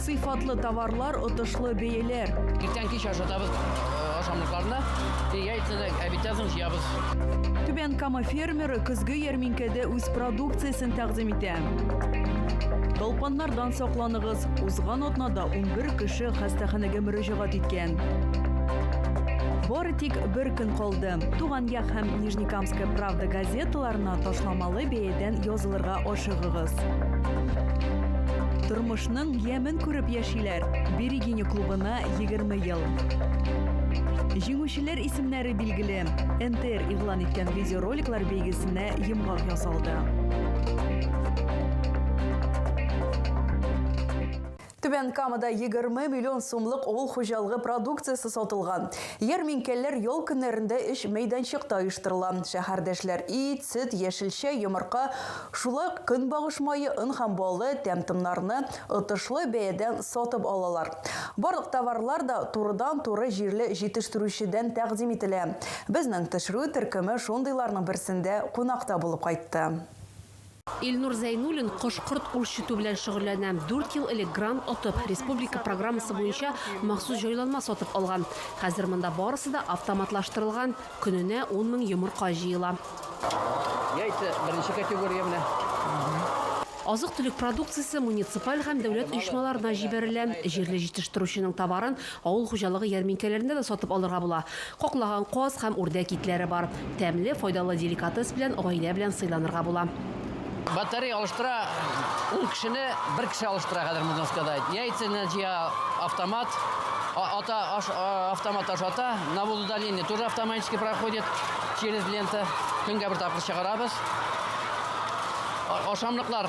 Сыйфатлы товарлар, отышлы бәяләр. Иртән кич ашатабыз э, ашамлыкларны. Яйцаны обитязын җыябыз. Түбән Кама фермеры көзге ярминкәдә үз продукциясен тәкъдим итә. Балпаннардан сакланыгыз. Узган атнада 11 кеше хастаханәгә мөрәҗәгать иткән. Бары тик бер көн калды. Туган як һәм Нижнекамск Киевская правда газеталарына ташламалы бәядән язылырга ашыгыгыз. Тормышның ямен күреп яшиләр. Берегиня клубына 20 ел. Җиңүчеләр исемнәре билгеле. НТР игълан иткән видеороликлар бәйгесенә йомгак ясалды. Түбән Камада егерме миллион сумлык авыл хуҗалыгы продукциясе сатылган. Ярминкәләр ял көннәрендә өч мәйданчыкта оештырыла. Шәһәрдәшләр ит, сөт, яшелчә, йомырка, шулай ук көнбагыш мае, он һәм балы, тәм-томнарны отышлы бәядән сатып алалар. Барлык товарлар да турыдан-туры җирле җитештерүчедән тәкъдим ителә. Безнең төшерү төркеме шундыйларның берсендә кунак та булып кайтты. Илнур Зәйнуллин кош-корт үрчетү белән шөгыльләнә. Дүрт ел элек грант отып, республика программасы буенча махсус җайланма сатып алган. Хәзер монда барысы да автоматлаштырылган, көненә ун мең йомырка җыела. Яйца, беренче категория менә. Азык-төлек продукциясе муниципаль һәм дәүләт оешмаларына җибәрелә. Җирле җитештерүченең товарын Авыл хуҗалыгы ярминкәләрендә дә сатып алырга була. Каклаган каз һәм үрдәк итләре бар. Тәмле, файдалы деликатес белән гаилә белән сыйланырга була. Батарея алыштыра ун кешене бер кеше алыштыра хәзер, можно сказать. Яйцаны җыя автомат, ата аш, автомат ашата. Навоз удаления тоже автоматически проходит через лента. Көнгә бер тапкыр чыгарабыз. Ашамлыклар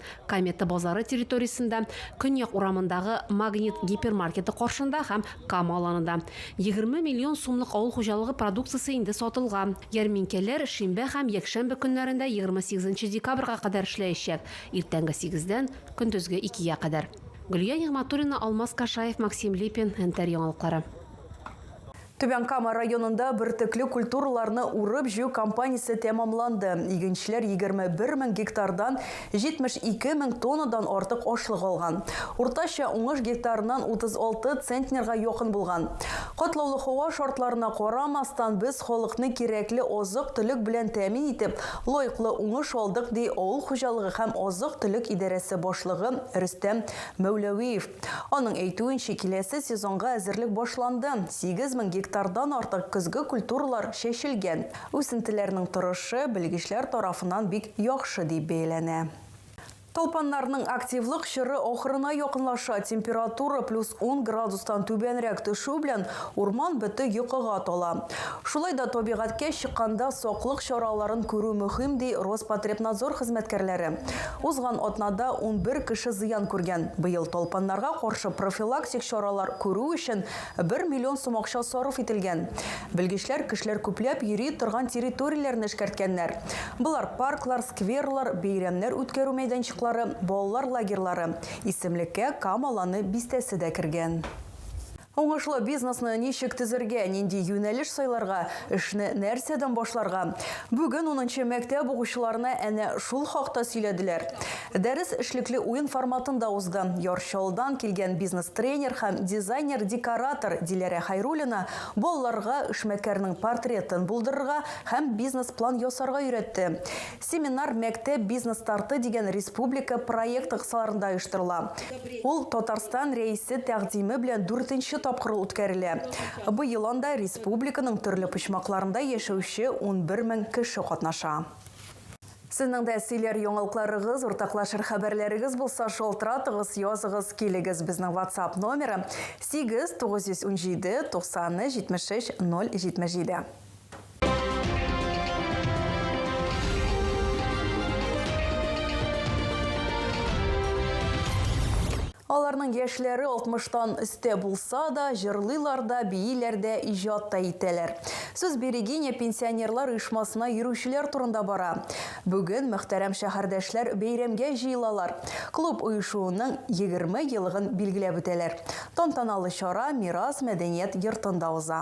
Комета базары территориясендә, Көньяк урамындагы Магнит гипермаркеты каршында һәм Кама аланында 20 миллион сумлык авыл хуҗалыгы продукциясе инде сатылган. Ярминкәләр шимбә һәм якшәмбе көннәрендә 28 нче декабрьга кадәр эшләячәк, иртәнге сигездән көндезге икегә кадәр. Гөлия Нигъмәтуллина, Алмаз Кашаев, Максим Липин, НТР яңалыклары. Түбән Кама районында бөртекле культураларны урып-җыю кампаниясе тәмамланды. Игенчеләр егерме бер мең гектардан 72 мең тоннадан артык ашлык алган. Уртача уңыш гектарыннан 36 центнерга якын булган. Катлаулы һава шартларына карамастан, без халыкны кирәкле азык-төлек белән тәэмин итеп, лаеклы уңыш алдык, ди авыл хуҗалыгы һәм азык-төлек идарәсе башлыгы Рөстәм Мәүләвиев. Аның әйтүенчә, киләсе сезонга әзерлек башланды, 8 мең гектардан артык көзге культуралар чәчелгән. Үсентеләрнең торышы белгечләр тарафыннан бик яхшы дип бәяләнә. Талпаннарның активлык чоры ахырына якынлаша, температура плюс ун градустан түбәнрәк төшү белән урман бөте йокыга тала. Шулай да табигатькә чыкканда саклык чараларын күрү мөһим, ди Роспотребнадзор хезмәткәрләре. Узган атнада унбер кеше зыян күргән. Быел талпаннарга каршы профилактик чаралар күрү өчен бер миллион сум акча сарыф ителгән. Белгечләр кешеләр күпләп йөри торган территорияләрне эшкәрткәннәр. Болар, парклар, скверлар, бәйрәмнәр үткәрү мәйданчыклары, балалар лагерьлары. Исемлеккә Кама Ланы бистәсе дә кергән. Уңышлы бизнесны ничек төзергә, нинди юнәлеш сайларга, эшне нәрсәдән башларга? Бүген унынчы мәктәп укучыларына әнә шул хакта сөйләделәр. Дәрес эшлекле уен форматында узды. Яр Чаллыдан килгән бизнес-тренер һәм дизайнер-декоратор Диләрә Хәйруллина балаларга эшмәкәрнең портретын булдырырга һәм бизнес-план ясарга өйрәтте. Семинар Мәктәп бизнес-старты дигән республика проекты кысаларында оештырыла. Ул Татарстан Рәисе тәкъдиме белән дүртенче тапкыр үткәрелә. Быел анда республиканың төрле почмакларында яшәүче унбер мең кеше катнаша. Сезнең дә сөйләр яңалыкларыгыз, уртаклашыр хәбәрләрегез булса, шалтыратыгыз, языгыз, килегез. Безнең WhatsApp номеры, 8 917 90 73 077. Аларның яшьләре 60-тан өстә булса да, җырлыйлар да, бииләр дә, иҗат та итәләр. Сүз Берегиня пенсионерлар оешмасына йөрүчеләр турында бара. Бүген мөхтәрәм шәһәрдәшләр бәйрәмгә җыелалар. Клуб оешуының 20 елыгын билгеләп үтәләр. Тантаналы чара Мирас мәдәният йортында уза.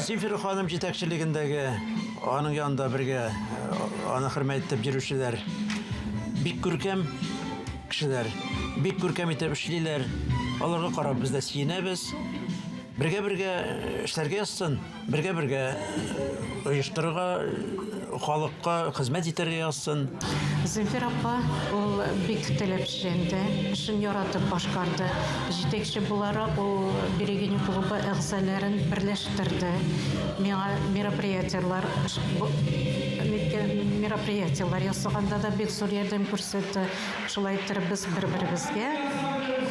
Сильфер ханым җитәкчелегендәге, аның янында бергә аны хөрмәт итеп йөрүчеләр бик күркәм кешеләр, бик күркәм итеп эшлиләр. Аларга карап без дә сөенәбез. Бергә-бергә эшләргә язсын, бергә-бергә оештырырга халыкка хезмәт итәргә язсын. Зөлфир апа ул бик теләпчән дә, эшен яратып башкарды. Җитәкче буларак ул Берегиня клубы әгъзаләрен берләштерде, миңа мероприятиеләр мероприятиеләр ясаганда да бик зур ярдәм күрсәтте. Шулай иттереп без бер-беребезгә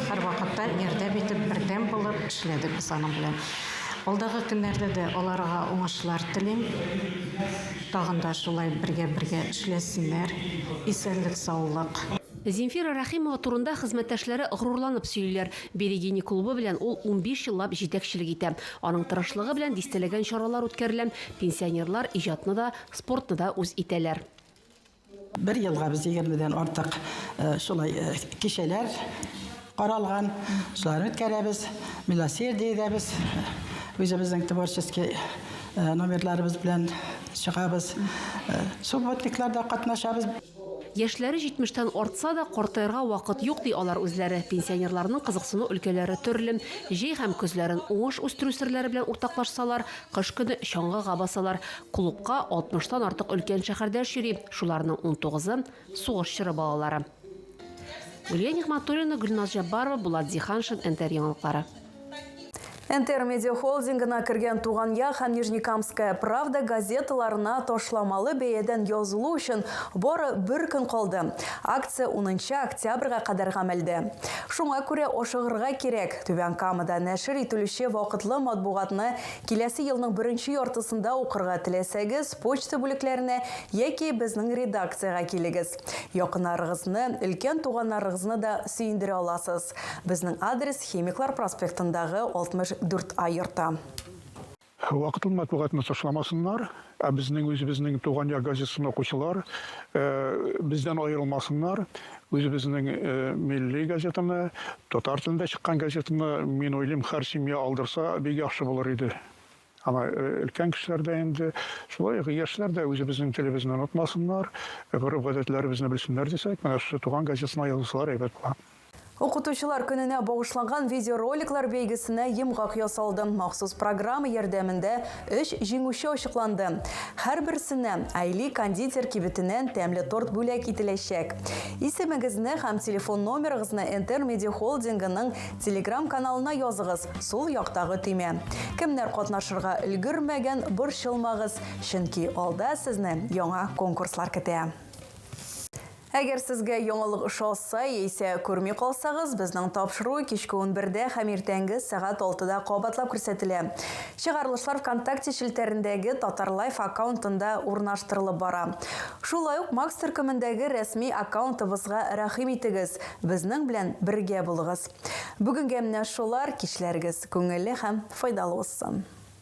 һәрвакытта ярдәм итеп, бердәм булып эшләдек без аның белән. Алдагы көннәрдә дә аларга уңышлар телим. Тагын да шулай бергә-бергә эшләсеннәр. Исәнлек, саулык. Земфира Рәхимова турында хезмәттәшләре горурланып сөйлиләр. Берегини клубы белән ул унбиш еллап җитәкчелек итә. Аның тырышлыгы белән дистәләгән чаралар үткәрелә, пенсионерлар иҗатны да, спортны да үз итәләр. Бер елга без егермедән артык шулай кичәләр каралган, шуларны үткәрәбез. Милосердиедә без үзебезнең творческий номерларыбыз белән чыгабыз. Субботникларда катнашабыз. Яшьләре 70 тән артса да, картаярга вакыт юк, ди алар үзләре. Пенсионерларның кызыксыну өлкәләре төрле. Җәй һәм көзләрен уңыш үстерү серләре белән уртаклашсалар, Кыш көне чаңгыга басалар. Клубка алтмыштан артык өлкән шәһәрдәш йөри, шуларның унтугызы, сугыш чоры балалары. Гөлия Нигъмәтуллина, Гөлназ Җәббарова, Булат Зиһаншин, НТР яңалыклары. НТР медиахолдингына кергән Туган як һәм Нижнекамская правда газеталарына ташламалы бәядән язылу өчен бары бер көн калды. Акция унынчы октябрьгә кадәр гамәлдә. Шуңа күрә ашыгырга кирәк! Түбән Камада нәшер ителүче вакытлы матбугатны киләсе елның беренче яртысында укырга теләсәгез, почта бүлекләренә яки безнең редакциягә килегез. Якыннарыгызны, өлкән туганнарыгызны да сөендерә аласыз. Безнең адрес Химиклар проспектындагы 64 А йорты. Вакытлы матбугатны ташламасыннар, ә безнең үзебезнең Туган як газетасын укучылар бездән аерылмасыннар. Үзебезнең милли газетаны, татар телендә чыккан газетаны, мин уйлыйм, һәр семья алдырса, бик яхшы булыр иде. Ана өлкән кешеләр дә инде, шулай ук яшьләр дә үзебезнең телебезне онытмасыннар, гореф-гадәтләребезне белсеннәр дисәк, менә шушы Туган газетасына язылсалар әйбәт була. Укытучылар көненә багышланган видеороликлар бәйгесенә йомгак ясалды. Махсус программа ярдәмендә өч җиңүче ачыкланды. Һәрберсенә Айли кондитер кибетеннән тәмле торт бүләк ителәчәк. Исемегезне һәм телефон номерыгызны Энтер медиахолдингының Телеграм-каналына языгыз, сул яктагы төймә. Кемнәр катнашырга өлгермәгән, борчылмагыз, чөнки алда сезне яңа конкурслар көтә. Әгәр сезгә яңалык ошалса, яисә күрми калсагыз, безнең тапшыру кичке унбердә һәм иртәнге сәгать алтыда кабатлап күрсәтелә. Чыгарылышлар Вконтакте челтәрендәге Татарлайф аккаунтында урнаштырылып бара. Шулай ук Макс төркемендәге рәсми аккаунтыбызга рәхим итегез, безнең белән бергә булыгыз. Бүгенгә менә шулар, кичләрегез күңелле һәм файдалы узсын!